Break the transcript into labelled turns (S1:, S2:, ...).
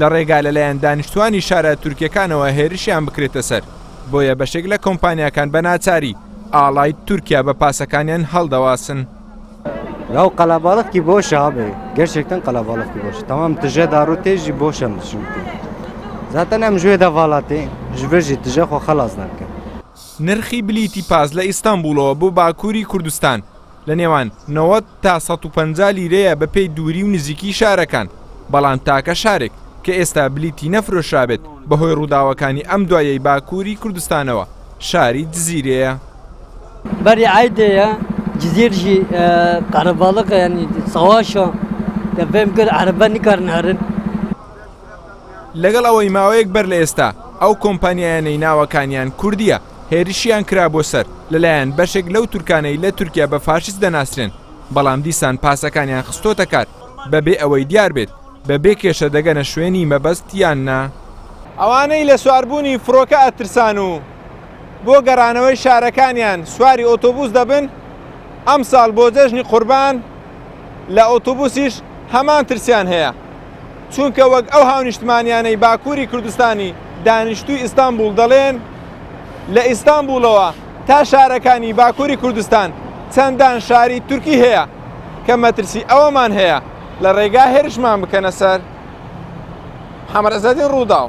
S1: لە ڕێگا لەلایەن دانیشتوانی شارە تورکیەکانەوە هێرشیان بکرێتە سەر، بۆیە بەشێک لە کۆمپانیاکان بە ناچاری ئاڵای تورکیا بە پاسەکانیان هەڵدەواسن.
S2: لەو قەلەباڵغ کی بۆش ئابێ گەشێک تەن قەلەباڵغ کی بۆش تەمام تژێ داڕوو تێژی بۆشە مشوتی زاتەن ئەم ژێ دەڤاڵاتێ ژبێژی تژە خۆ خەڵاز نەکەن. نرخی
S1: بلیتی پاس لە ئیستانبوڵەوە بۆ باکووری کوردستان لە نێوان نەوەد تا سەد و پەنجا لیرەیە بە پێی دووری و نزیکی شارەکان، بەڵام تاکە شارێک کە ئێستا بلیتی نەفرۆشرابێت بە هۆی ڕووداوەکانی ئەم دواییەی باکووری کوردستانەوە شاری جزیرەیە.
S3: بەری عەیدێیە جزیر ژی قەرەباڵغە یانی سەواشە دە بێم گەر عەرەبە نکار نارن.
S1: لەگەڵ ئەوەی ماوەیەک بەر لە ئێستا ئەو کۆمپانیایانەی ناوەکانیان کوردییە، هێرشیان کرا بۆ سەر لەلایەن بەشێک لەو تورکانەی لە تورکیا بە فاشیست دەناسرێن، بەڵام دیسان پاسەکانیان خستۆتە کار بەبێ ئەوەی دیار بێت بە بێ کێشە دەگەنە شوێنی مەبەست یان نا. ئەوانەی لە سواربوونی فڕۆکە ئەترسان و بۆ گەڕانەوەی شارەکانیان سواری ئۆتۆبووس دەبن، ئەمساڵ بۆ جەژنی قوربان لە ئۆتۆبووسیش هەمان ترسیان هەیە. چونکە وەک ئەو هاونیشتمانیانەی باکوری کوردستانی دانیشتوی ئیستانبوڵ دەڵێن لە ئیستانبوڵەوە تا شارەکانی باکوری کوردستان چەندان شاری تورکی هەیە کە مەترسی ئەوەمان هەیە لە ڕێگا هێرشمان بکەنە سەر حەمەرەزەدین ڕووداو